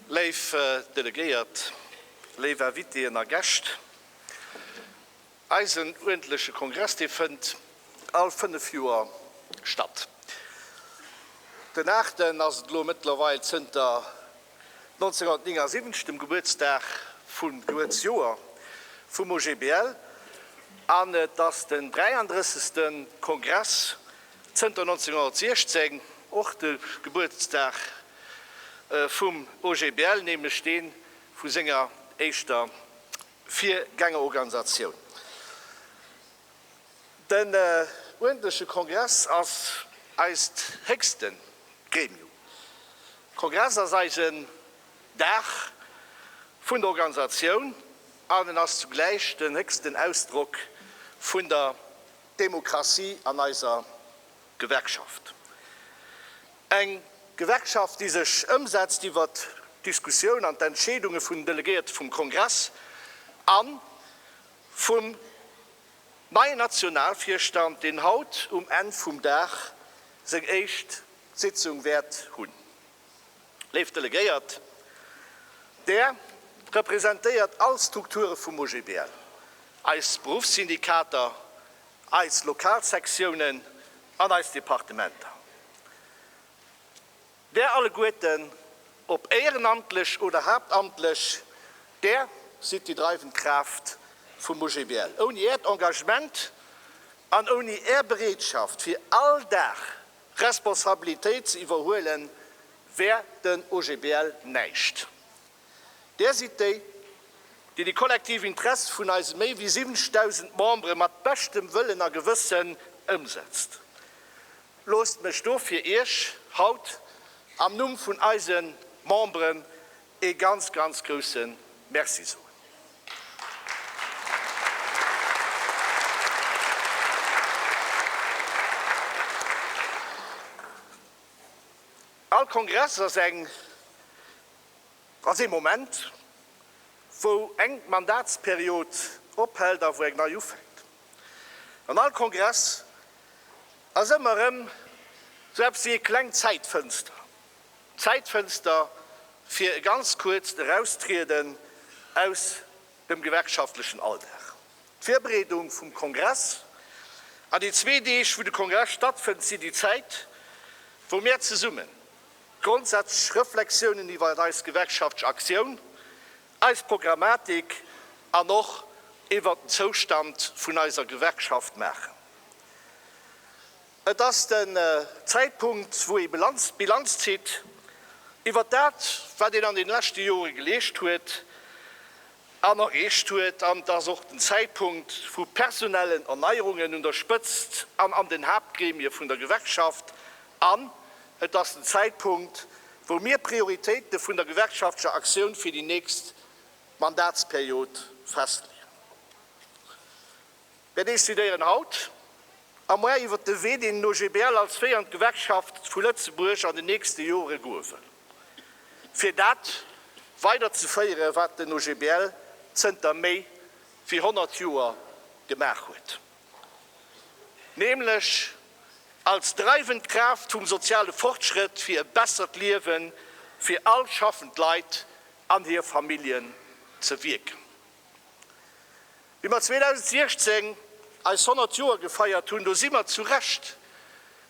Léif Delegéiert, léif Invitéen a Gäscht, eisen uerdentleche Kongress, dee fënnt all fënnef Joer statt. Den aachten ass et elo mëttlerweil zënter 1979, dem Gebuertsdag vum Gebuertsjoer vum OGBL, an et ass den 33. Kongress zënter 1916, och de Gebuertsdag vum OGBL, nämlech dee vu senger éischter Virgängerorganisatioun. Den uerdentleche Kongress ass eist héchste Gremium. Kongress ass eisen Dag vun der Organisatioun an en ass zugläich den héchsten Ausdrock vun der Demokratie an eiser Gewerkschaft. Eng Gewerkschaft, déi sech ëmsetzt iwwer d'Diskussioun an d'Entscheedunge vun den Delegéierte vum Kongress a vum. Neien Nationalvirstand, deen haut um Enn vum Dag seng éischt Sitzung wäert hunn. Léif Delegéiert, Där representéiert all Strukture vum OGBL, eis Beruffssyndikater, eis Lokalsektiounen an eis Departementer. Där alleguerten, ob éierenamtlech oder haaptamtlech, Där sidd déi dreiwend Kraaft vum OGBL. Ouni Äert Engagement an ouni Är Bereetschaft fir all Dag Responsabilitéit ze iwwerhuelen, wär den OGBL näischt. Där sidd déi, déi de kollektiv Interesse vun eise méi wéi 70.000 Membere mat beschtem Wëllen a Gewëssen ëmsetzt. Loosst mech do fir Iech haut am Numm vun eise Memberen ee ganz, ganz grouse Merci soen. All Kongress ass eng, ass ee Moment, wou eng Mandatsperiod ophält a wou eng nei ufänkt. An all Kongress ass ëmmer erëm sou eppes wéi e klengt Zäitfënster, Zäitfënster fir e ganz kuerzt Eraustrieden aus dem gewerkschaftlechen Alldag. D'Virbereedung vum Kongress an déi zwee Deeg, wou de Kongress stattfënnt, sinn déi Zäit, wou mär zesummen grondsätzlech Reflexiounen iwwert eis gewerkschaftlech Aktioun eis Programmatik an och iwwert den Zoustand vun eiser Gewerkschaft maachen. Et ass den Zäitpunkt, wou ee Bilanz zitt iwwert dat, wat een an deene leschte Jore geleescht huet an erreecht huet. An et ass och den Zäitpunkt, wou personellen Erneierungen un der Spëtzt an an den Haaptgremie vun der Gewerkschaft an Et ass den Zäitpunkt, wou mir d'Prioritéite vun der gewerkschaftlecher Aktioun fir déi nächst Mandatsperiod festleeën. Mir decidéieren haut a moar iwwert de Wee, deen d'OGBL als féiernd Gewerkschaft vu Lëtzebuerg an den nächste Jore goe wëll, fir dat weider ze féieren, wat den OGBL zënter méi wéi 100 Joer gemaach huet. nämlech als dreiwend Kraaft vum soziale Fortschrëtt fir e bessert Liewe fir all schaffend Leit an hir Familljen ze wierken. Wéi mer 2016 eis 100 Joer gefeiert hunn, do si mer zu Recht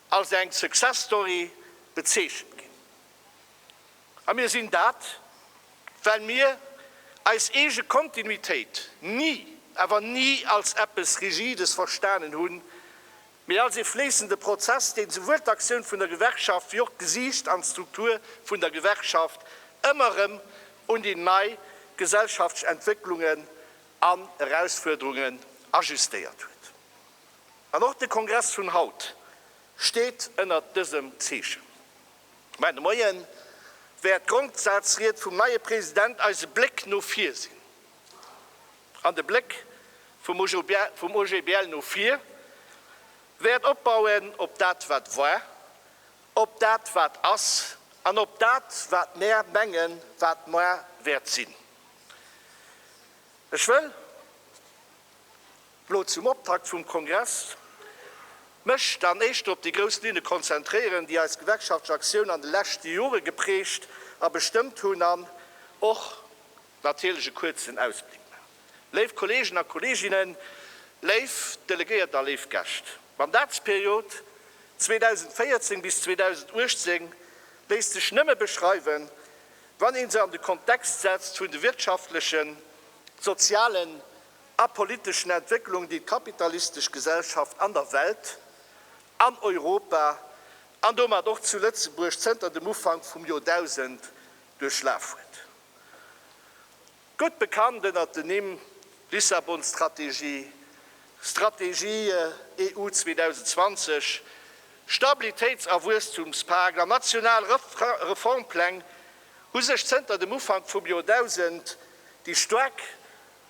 als eng Success Story bezeechent ginn. A mir sinn dat, well mir eis eege Kontinuitéit ni, awer ni als eppes Rigides verstanen hunn, mee als ee fléissende Prozess, deen souwuel d'Aktioun vun der Gewerkschaft wéi och d'Gesiicht an d'Struktur vun der Gewerkschaft ëmmer erëm un déi nei gesellschaftsch Entwécklungen an Erausfuerderungen ajustéiert huet. An och de Kongress vun haut steet ënnert dësem Zeechen. Mä de Moie wäert d'Grondsazried vum neie President eise Bléck no vir sinn. An de Bléck vum OGBL no vir wäert opbauen op dat wat war, op dat wat ass an op dat wat mär mengen wat moar wäert sinn. Ech wëll. Lo zum Optakt vum Kongress mech dann éischter op déi grouss Linne konzentréieren, déi eis gewerkschaftlech Aktioun an de leschte Jore geprägt a bestëmmt hunn an och natierlech e kuerzen Ausbléck man. Léif Kollegen a Kolleginnen, léif Delegéiert a léif Gäscht, d'Mandatsperiod 2014 bis 2018 léisst sech nëmme beschreiwen, wann ee se an de Kontext setzt vun de wirtschaftlechen, sozialen a politeschen Entwécklung, déi d'kapitalistesch Gesellschaft an der Welt, an Europa an domat och zu Lëtzebuerg zënter dem Ufank vum Joerdausend duerchlaf huet. Gutt bekannt ënnert den Nimm Lissabon-Strategie, Strategie EU 2020, Stabilitéits a Wuesstumspakt an national Reformpläng hu sech zënter dem Ufank vum Joerdausend déi staark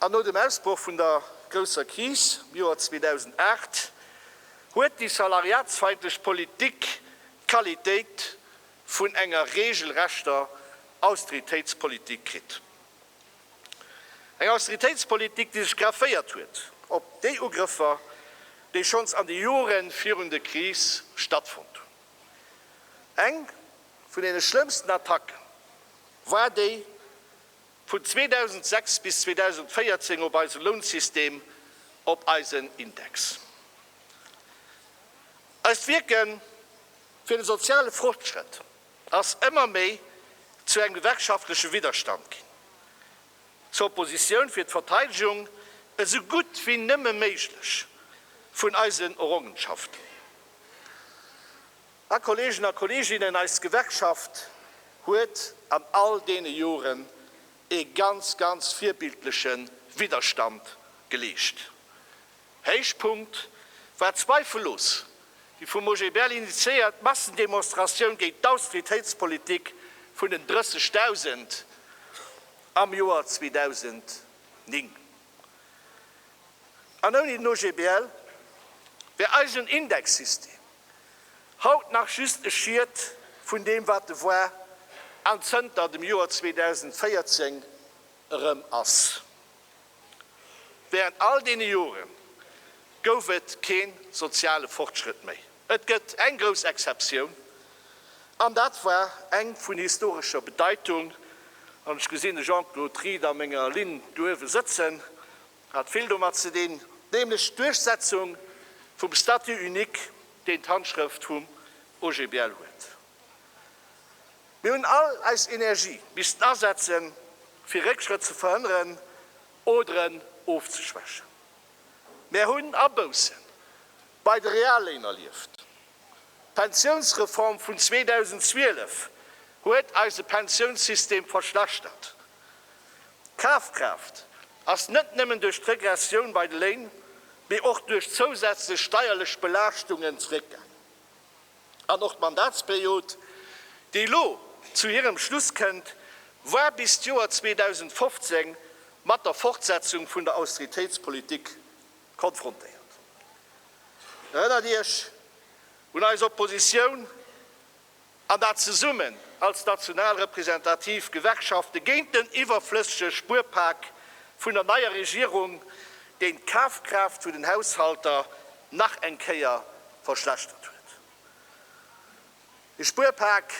An no dem Ausbroch vun der grousser Kris am Joer 2008 huet déi salariatsfeindlech Politik d'Qualitéit vun enger regelrechter Austeritéitspolitik kritt. Eng Austeritéitspolitik, déi sech grafféiert huet op déi Ugrëffer, déi schonns an de Jore virun der Kris stattfonnt hunn. Eng vun deene schlëmmsten Attacken war déi Vun 2006 bis 2014 op eise Lounsystem, op eisen Index. Eist Wierke fir de soziale Fortschrëtt ass ëmmer méi zu engem gewerkschaftleche Widderstand ginn, zur Oppositioun fir d'Verteidegung esou gutt wéi nëmme méiglech vun eisen Errongenschaften. A Kolleegen a Kolleeginnen, eis Gewerkschaft huet an all deene Joren ee ganz, ganz virbildleche Widderstand geleescht. Héichpunkt war zweifellos déi vum OGBL initiéiert Massendemonstratioun géint d'Austeritéitspolitik vun den 30.000 am Joer 2009. An ouni den OGBL wär eisen Indexsystem Haut nach just e Schiet vun deem wat e war an zënter dem Joer 2014 erëm ass. Während all deene Jore gouf et kee soziale Fortschrëtt méi. Et gëtt eng grouss Exceptioun, an dat war eng vun historescher Bedeitung, an ech gesinn de Jean-Claude Rieder a menger Linn do uewe sëtzen, Hat vill domat ze dinn, nämlech d'Duerchsetzung vum Statut unique, deen d'Handschrëft vum OGBL huet. Mir hunn all eis Energie missten asetzen, fir Réckschrëtt ze verhënneren oder en ofzeschwächen. Mär hunn Abousse bei de Realléin erlieft. D'Pensiounsreform vun 2012 huet eise Pensiounssystem verschlechtert. D'Kafkraaft ass net nëmmen duerch d'Regressioun bei de Léin, mee och duerch zousätzlech steierlech Belaaschtungen zeréckgaangen. An och d'Mandatsperiod, déi elo zu hirem Schluss kënnt, war bis d'Joer 2015 mat der Fortsetzung vun der Austeritéitspolitik konfrontéiert. Erënnert Iech un eis Oppositioun an dat zesummen als national representativ Gewerkschafte géint den iwwerflëssege Spuerpak vun der neier Regierung, deen d'Kafkraaft vun den Haushalter nach eng Kéier verschlechtert huet. Ee Spuerpak,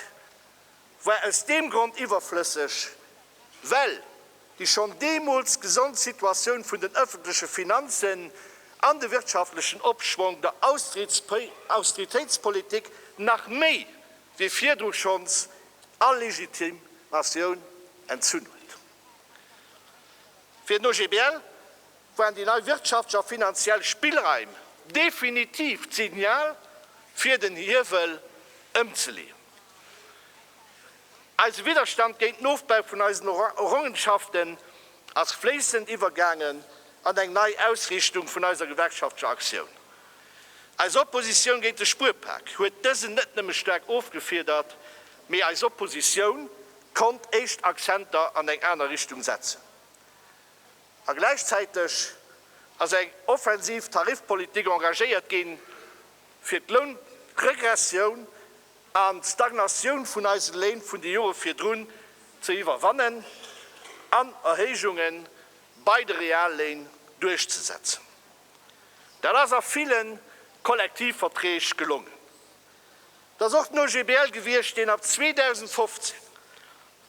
war aus deem Grond iwwerflësseg, well déi schonn deemools gesond Situatioun vun den ëffentleche Finanzen an de wirtschaftlechen Opschwong der Austeritéitspolitik nach méi wéi virdru schonns all Legitimatioun entzunn huet. Fir den OGBL waren déi nei wirtschaftlech a finanziell Spillraim definitiv d'Signal, fir den Hiewel ëmzeleeën. Eise Widderstand géint Nofbau vun eisen Errongenschaften ass fléissend iwwergaangen an eng nei Ausriichtung vun eiser gewerkschaftlecher Aktioun. Eis Oppositioun géint de Spuerpak huet dësen net nëmme staark ofgefiedert, mee eis Oppositioun konnt éischt Akzenter an eng aner Richtung setzen. A gläichzäiteg ass eng offensiv Tarifpolitik engagéiert ginn, fir d'Lounregressioun an d'Stagnatioun vun eise Léin vun de Jore virdrun ze iwwerwannen an Erhéijunge bei de Realléin duerchzesetzen. Dat ass a ville Kollektivverträg gelongen. Et ass och den OGBL gewiescht, deen ab 2015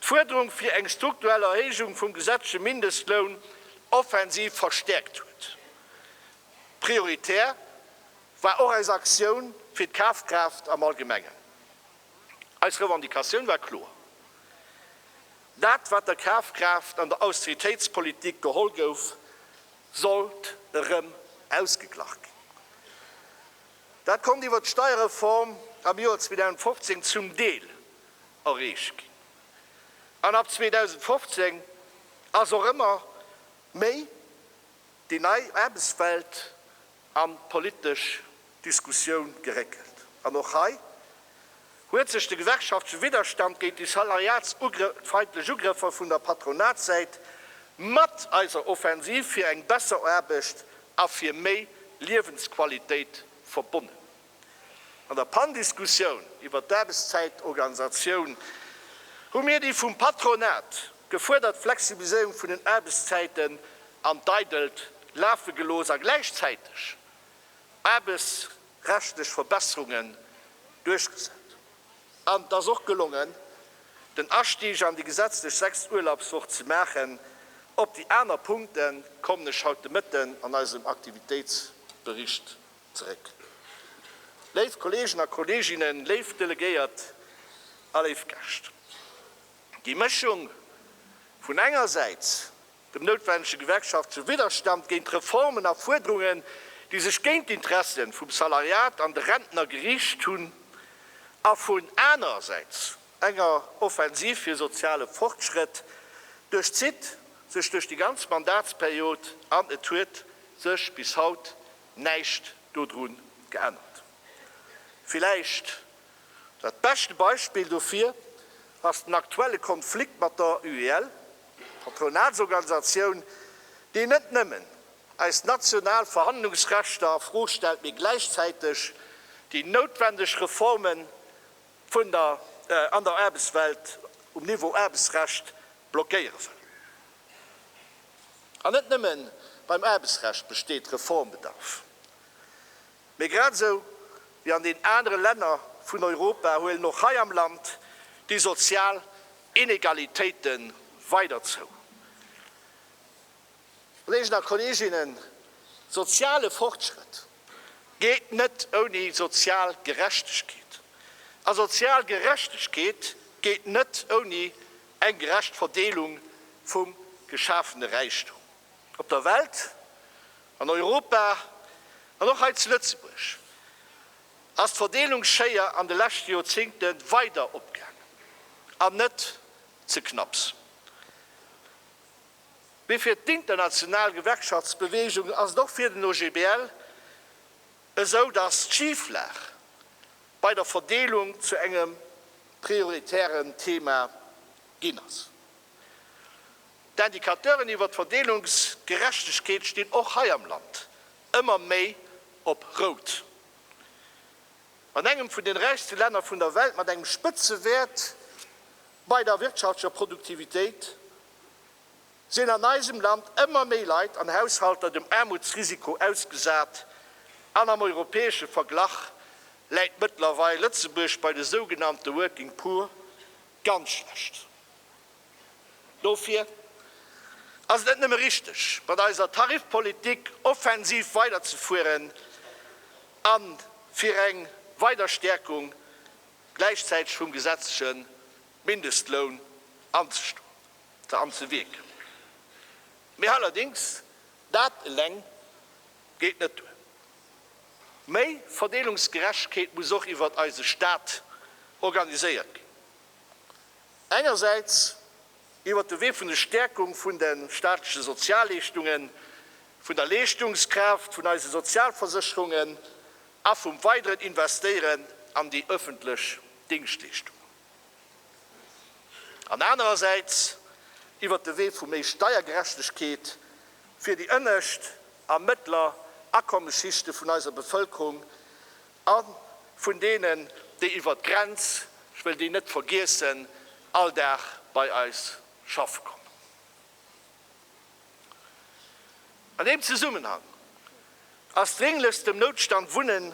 d'Fuerderung fir eng strukturell Erhéijung vum gesetzleche Mindestloun offensiv verstäerkt huet, prioritär war och eis Aktioun fir d'Kafkraaft am Allgemengen. Eis Revendicatioun war kloer, Dat wat der Kafkraaft an der Austeritéitspolitik geholl gouf, sollt erëm ausgeglach ginn. Dat konnt iwwer d'Steierreform am Joer 2015 zum Deel erreecht ginn, an ab 2015 ass och ëmmer méi déi nei Aarbechtswelt an d'politesch Diskussioun geréckelt. An och hei huet sech de gewerkschaftleche Widderstand géint déi salariatsfeindlech Ugrëffer vun der Patronatssäit mat eiser Offensiv fir eng besser Aarbecht a fir méi Liewensqualitéit verbonnen. An der Panndiskussioun iwwert d'Aarbechtszäitorganisatioun hu mir déi vum Patronat gefuerdert Flexibiliséierung vun den Aarbechtszäiten an d'Eidelt lafe gelooss a gläichzäiteg aarbechtsrechtlech Verbesserungen duerchgesat. An et ass och gelongen, den Astieg an déi gesetzlech sechst Urlaubswoch ze maachen. Op déi aner Punkte kommen ech haut de Mëtten an eisem Aktivitéitsbericht zeréck. Léif Kolleegen a Kolleeginnen, léif Delegéiert a léif Gäscht, déi Mëschung vun engersäits dem noutwendege gewerkschaftleche Widderstand géint Reformen a Fuerderungen, déi sech géint d'Interesse vum Salariat an de Rentner geriicht hunn, a vun anerersäits enger Offensiv fir soziale Fortschrëtt, duerchzitt sech duerch déi ganz Mandatsperiod an et huet sech bis haut näischt dodru geännert. Villäicht dat beschte Beispill dofir ass den aktuelle Konflikt mat der UEL, Patronatsorganisatioun, deen net nëmmen eis national Verhandlungsrechter a Fro stellt, mee gläichzäiteg déi noutwendeg Reforme vun der an der Aarbechtswelt um Niveau Aarbechtsrecht blockéiere wëll. An net nëmme beim Aarbechtsrecht besteet Reformbedarf, mee grad esou wéi an den anere Länner vun Europa huelen och hei am Land déi sozial Inegalitéite weider zou. Kolleegen a Kolleeginnen, soziale Fortschrëtt geet net ouni sozial Gerechtegkeet, a sozial Gerechtegkeet geet net ouni Eng gerecht Verdeelung vum geschafene Räichtum op der Welt, an Europa an och hei zu Lëtzebuerg ass d'Verdeelungsschéier an de leschte Joerzingte weider opgaangen an net ze knapps. Mee fir d'international Gewerkschaftsbeweegung ass et och fir den OGBL esou datt d'Schiflag bei der Verdeelung zu engem prioritären Thema ginn ass. D'Indicateuren iwwer d'Verdeelungsgerechtegkeet stinn och hei am Land ëmmer méi op Rout. An engem vun den räichste Länner vun der Welt mat engem Spëtzewäert bei der wirtschaftlecher Produktivitéit, sinn an eisem Land ëmmer méi Leit an Haushalter dem Aarmutsrisiko ausgesat an am europäesche Verglach läit mëttlerweil Lëtzebuerg bei de sougenannte Working Poor ganz schlecht do. Fir ass et net nëmme richteg, mat eiser Tarifpolitik offensiv weiderzefueren a fir eng weider Stäerkung gläichzäiteg vum gesetzleche Mindestloun anzestoen. ze an ze wierken. Mee allerdéngs, dat eleng geet net duer. Méi Verdeelungsgerechtegkeet muss och iwwert eise Staat organiséiert ginn. Engersäits iwwert de Wee vun de Stäerkung vun de staatleche Sozialleeschtungen, vun der Leeschtungskraaft vun eise Sozialversécherungen a vum weideren Investéieren an déi ëffentlech Dingschtleeschtungen. an anerersäits iwwert de Wee vu méi Steiergerechtegkeet fir déi ënnescht a mëttler Akommesschichte vun eiser Bevëlkerung a vun deenen, déi iwwert d'Grenz, ech wëll déi net vergiessen, all Dag bei eis schaffe kommen. An deem Zesummenhang ass drénglechst dem Noutstand Wunnen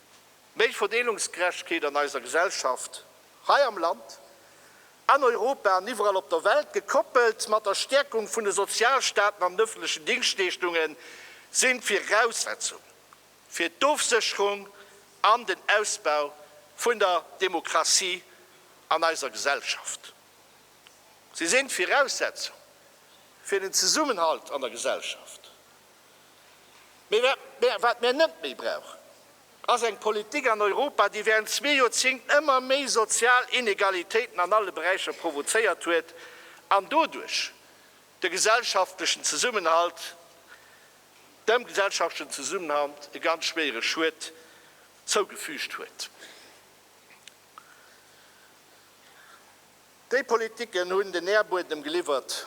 méi Verdeelungsgerechtegkeet an eiser Gesellschaft hei am Land, an Europa an iwwerall op der Welt, gekoppelt mat der Stärkung vun de Sozialstaaten an den öffentlechen Dingschtleeschtungen, si Viraussetzung fir d'Ofsécherung an den Ausbau vun der Demokratie an eiser Gesellschaft. Si si Viraussetzung fir den Zesummenhalt an der Gesellschaft. Mee wat mir net méi brauchen, ass eng Politik an Europa, déi während zwee Joerzéngt ëmmer méi sozial Inegalitéiten an alle Beräicher provozéiert huet an doduerch de gesellschaftlechen Zesummenhalt, dem gesellschaftlechen Zesummenhalt e ganz schwéiere Schued zougefügt huet. Déi Politiken hunn den Nährbuedem geliwwert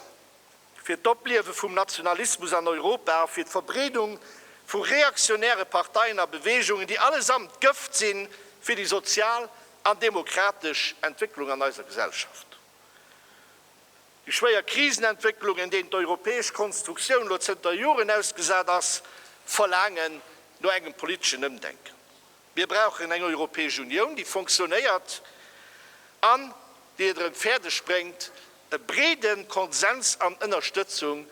fir d'Opliewe vum Nationalismus an Europa a fir d'Verbreedung vu reaktionäre Parteien a Beweegungen, déi allesamt Gëft si fir déi sozial an demokratesch Entwécklung an eiser Gesellschaft. Déi schwéier Krisenentwécklungen, deenen d'europäesch Konstruktioun elo zënter Joren ausgesat ass, verlaangen no engem politeschen Ëmdenken. Mir brauchen eng Europäesch Unioun, déi fonctionnéiert an déi et erëm fäerdeg bréngt, e breede Konsens an Ënnerstëtzung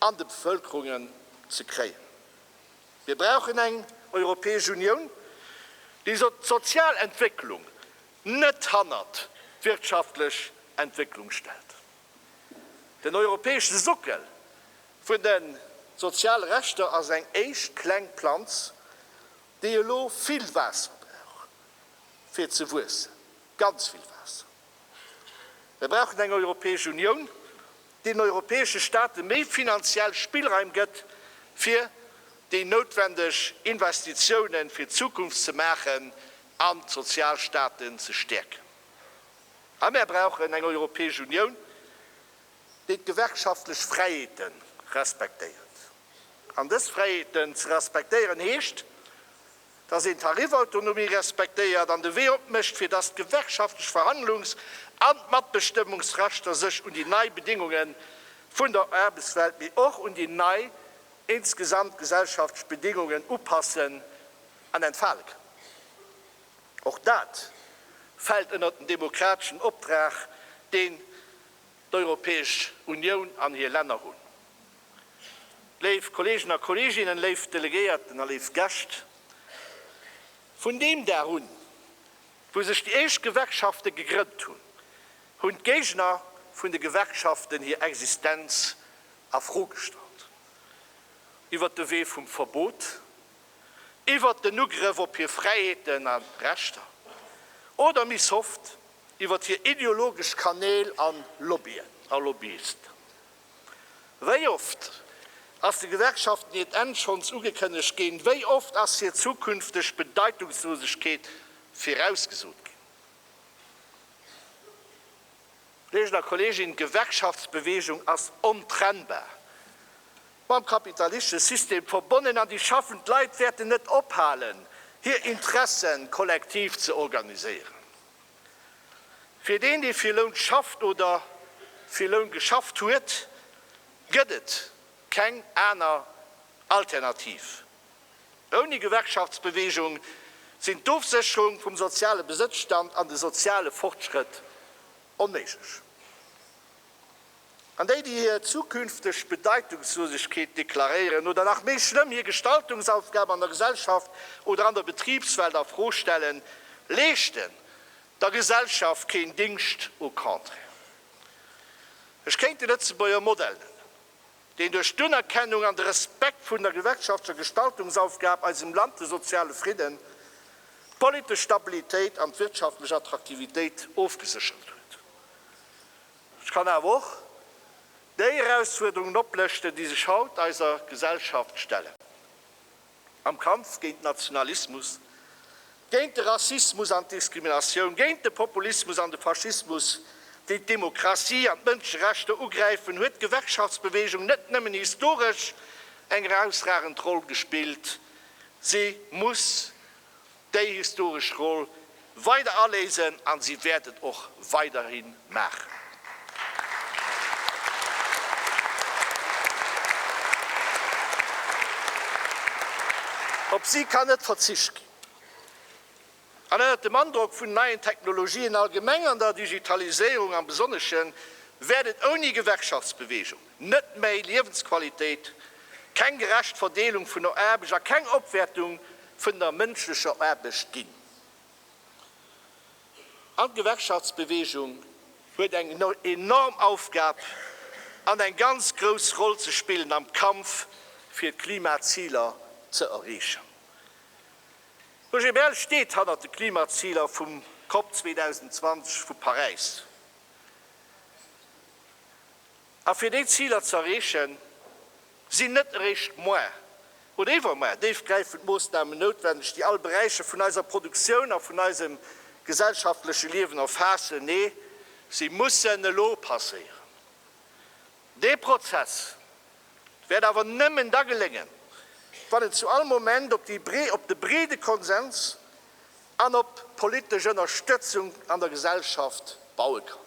an de Bevëlkerungen ze kréien. Mir brauchen eng Europäesch Unioun, déi d'sozial Entwécklung net hannert d'wirtschaftlech Entwécklung stellt. Den europäesche Sockel vun de soziale Rechter ass eng éischt kleng Planz déi elo vill Waasser brauchen, fir ze wuessen, ganz vill Waasser. Mir brauchen eng Europäesch Unioun, déi den europäesche Staate méi finanziell Spillraim gëtt, fir déi noutwendeg Investitiounen fir d'Zukunft ze maachen an d'Sozialstaaten ze stäerken. A mir brauchen eng Europäesch Unioun, déi d'gewerkschaftlech Fräiheete respektéiert. An dës Fräiheeten ze respektéieren heescht, datt een d'Tarifautonomie respektéiert an de Wee opmécht, fir datt d'gewerkschaftlech Verhandlungs an d'Matbestëmmungsrechter sech un déi nei Bedingunge vun der Aarbechtswelt, mee och un déi nei insgesamt gesellschaftlech Bedingungen upassen an entfale kënnen. Och dat fält ënnert den demokrateschen Optrag, deen d'Europäesch Unioun an hir Länner hunn. Léif Kolleegen a Kolleeginnen, léif Delegéierten a léif Gäscht, vun deem Dag un, wou sech déi éischt Gewerkschafte gegrënnt hunn, hunn d'Géigner vun de Gewerkschaften hir Existenz a Fro gestallt. Iwwert de Wee vum Verbot, iwwert den Ugrëff op hir Fräiheeten a Rechter oder, méi soft, Iwwert hir ideologesch Kanäl a Lobbyen a Lobbyisten. Wéi oft ass de Gewerkschaften hiert Enn schonns ugekënnegt ginn? Wéi oft ass hir zukünfteg Bedeitungslosegkeet virausgesot ginn? Kolleegen a Kolleeginnen, d'Gewerkschaftsbewegung ass ontrennbar mam kapitalistische System verbonnen, an déi schaffend Leit wäerten net ophalen, hir Interessen kollektiv ze organiséieren. Fir deen, dee fir Loun schafft oder fir Loun geschafft huet, gëtt et keng aner Alternativ. Ouni Gewerkschaftsbeweegung sinn d'Ofsécherung vum soziale Besëtzstand an de soziale Fortschrëtt onméiglech. An déi, déi hir zukünfteg Bedeitungslosegkeet deklaréieren oder, nach méi schlëmm, hir Gestaltungsaufgab an der Gesellschaft oder an der Betribswelt a Fro stellen, leeschten der Gesellschaft keen Dingscht, au contraire. Ech kéint de Lëtzebuerger Modell nennen, deen duerch d'Unerkennung an de Respekt vun der gewerkschaftlecher Gestaltungsaufgab eisem Land de soziale Fridden, d'politesch Stabilitéit an d'wirtschaftlech Attraktivitéit ofgeséchert huet. Ech kann awer och déi Erausfuerderungen oplëschten, déi sech haut eiser Gesellschaft stellen, am Kampf géint den Nationalismus, géint de Rassismus an d'Diskriminatioun, géint de Populismus an de Faschismus, déi d'Demokratie an d'Mënscherechter ugräifen, huet d'Gewerkschaftsbewegung net nëmmen historesch eng erausragend Roll gespillt, si muss déi historesch Roll weider aléisen an si wäert et och weiderhi maachen. Op si kann net verzicht ginn. An ënnert dem Androck vun neien Technologien allgemeng an der Digitaliséierung am Besonneschen wäert et ouni Gewerkschaftsbewegung, Net méi Liewensqualitéit, keng gerecht Verdeelung vun der Aarbecht a keng Opwäertung vun der mënschlecher Aarbecht ginn. An d'Gewerkschaftsbeweegung huet eng enorm Aufgab an eng ganz grouss Roll ze spillen am Kampf fir d'Klimaziler ze erreechen. D'OGBL steet hannert de Klimaziler vum COP 2020 vu Paräis. A fir déi Ziler ze erreechen, sinn net eréischt muer oder iwwermuer déifgräifend Moossnamen noutwendeg, déi all Beräicher vun eiser Produktioun a vun eisem gesellschaftleche Liewen erfaassen. Nee, si mussen elo passéieren. Dee Prozess wäert awer nëmmen da geléngen, wann en zu all Moment op de breede Konsens an op politesch Ënnerstëtzung an der Gesellschaft baue kann.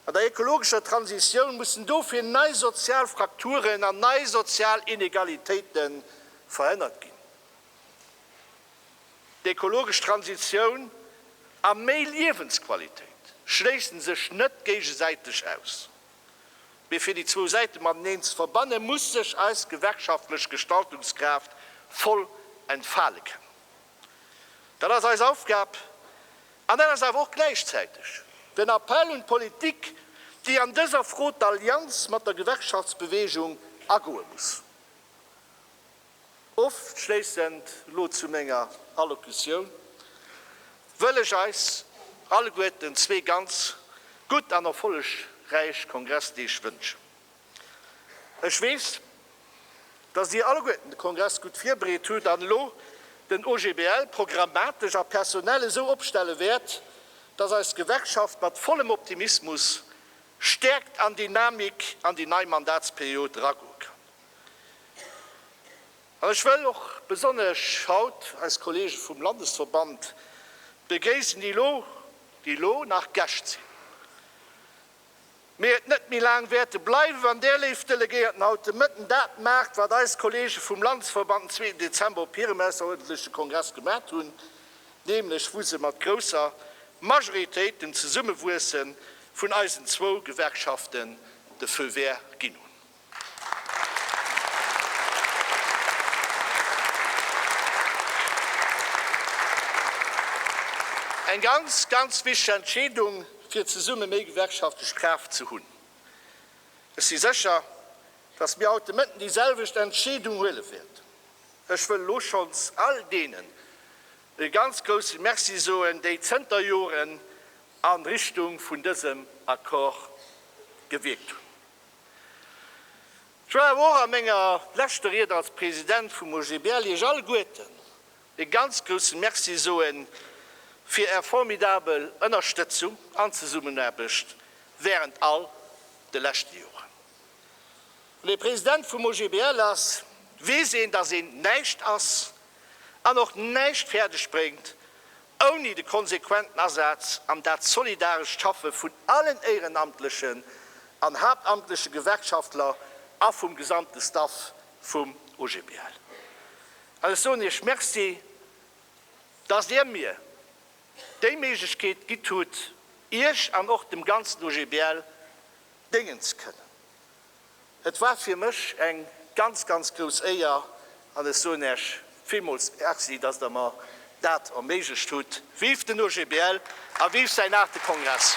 An der ekologescher Transitioun mussen dofir nei sozial Frakturen an nei sozial Inegalitéite verhënnert ginn. D'ekologesch Transitioun a méi Liewensqualitéit schléissen sech net géigesäiteg aus, mee fir déi zwou Säite mateneen ze verbanne muss sech eis gewerkschaftlech Gestaltungskraaft voll entfale kënnen. Dat ass eis Aufgab an dat ass awer och gläichzäiteg den Appell un d'Politik, déi an dëser Fro d'Allianz mat der Gewerkschaftsbewegung agoe muss. Ofschléissend elo zu menger Allocutioun wëll ech eis alleguerten zwee ganz gutt an erfollegräich Kongressdeeg wënschen. Ech weess, dass Dir alleguerten de Kongress gutt virbereet hutt an elo den OGBL programmatesch a personell esou opstelle wäert, dass eis Gewerkschaft mat vollem Optimismus, Stäerkt an Dynamik an déi nei Mandatsperiod eragoe kann. An ech wëll och besonnesch haut eis Kollege vum Landesverband begréissen, déi elo nach Gäscht sinn. mee et net méi laang wäerte bleiwe wann där léif Delegéierten haut de Mëtten dat maacht, wat eis Kollege vum Landesverband den zweeten Dezember op hirem ausseruerdentleche Kongress gemat hunn, nämlech wou se mat grousser Majoritéit dem Zesummewuesse vun eisen zwou Gewerkschaften de Feu vert ginn hunn. Eng ganz, ganz wichteg Entscheedung, fir zesumme méi gewerkschaftlech Kraaft ze hunn. Ech si sécher, datt mir haut de Mëtten déi selwecht Entscheedung huele wäerten. Ech wëll elo schonns all deenen e ganz grousse Merci soen, déi zënter Joren a Richtung vun dësem Accord gewierkt hunn. Joer awer och a menger leschte Ried als President vum OGBL Iech alleguerten e ganz grousse Merci soe fir Är formidabel Ënnerstëtzung an Zesummenaarbecht während all de leschte Joren. Wann ee President vum OGBL ass, weess een, dass een näischt ass, an och näischt fäerdeg bréngt ouni de konsequenten Asaz an dat solidarescht Schaffe vun allen éierenamtlechen an haaptamtleche Gewerkschaftler a vum gesamte Staff vum OGBL. An ech soen Iech Merci, datt Dir mir déi Méiglechkeet gitt hutt, Iech an och dem ganzen OGBL déngen ze kënnen. Et war fir mech eng ganz, ganz grouss Éier an ech soen Äech villmools Merci, dass Der mer dat erméiglecht hutt. Vive den OGBL a vive säin aachte Kongress!